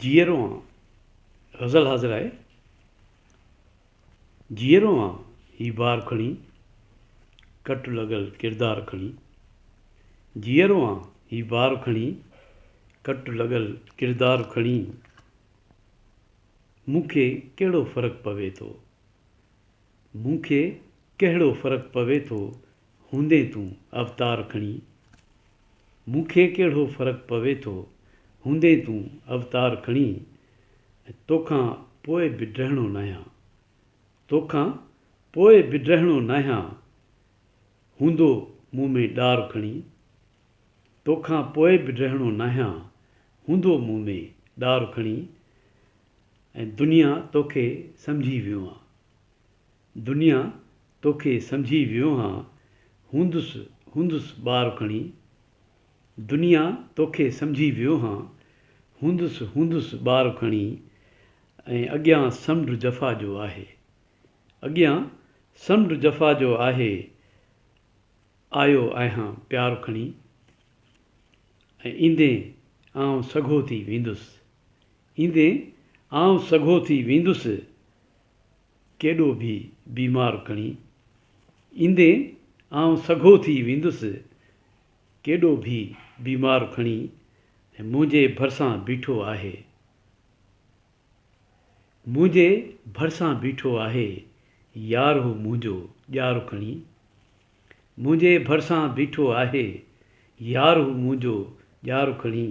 جيئرو آن غزل حاضر آهي. جيئرو آن هي بار کڻي، ڪٽ لڳل ڪردار کڻي. جيئرو آن هي بار کڻي، ڪٽ لڳل ڪردار کڻي. مون کي ڪهڙو فرق پوي ٿو. مون کي ڪهڙو فرق پوي ٿو هوندين تون اوتار کڻي مون کي ڪهڙو فرق پوي ٿو هوندين تون اوتار کڻي توکان پوء به ڊهڻو ناهيان توکان پوء به ڊهڻو ناهيان هوندو مون ۾ ڏار کڻي توکان پوء به ڊهڻو ناهيان هوندو مون ۾ ڏار کڻي ۽ دنيا توکي سمجهي ويوهان دنيا توکي سمجهي ويوهان هوندس هوندس ٻار کڻي دنيا توکي سمجهي ويوهان هوندس هوندس ٻار کڻي ۽ اڳيان سمنڊ جفا جو آهي اڳيان سمنڊ جفا جو آهي آيو آهيان پيار کڻي ۽ ايندين آئون سگهو ٿي ويندس ايندي آئون سگهو ٿي ويندس ڪيڏو به بيمار کڻي ايندي آئون سگهو ٿي ويندس ڪيڏو به بيمار کڻي منهنجي ڀرسان بيٺو آهي منهنجي ڀرسان بيٺو آهي يار هو منهنجو ڄار کڻي منهنجي ڀرسان بيٺو آهي يار هو منهنجو ڄار کڻي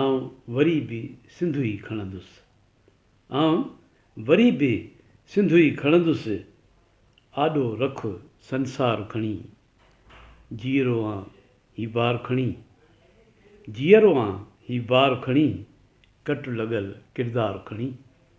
آئون وري به سنڌو ئي کڻندس آئون وري به سنڌو ئي کڻندس آڏو رک سنسار کڻي جيئرو آن هي بار کڻي جيئرو آن هي بار کڻي ڪٽ لڳل ڪردار کڻي.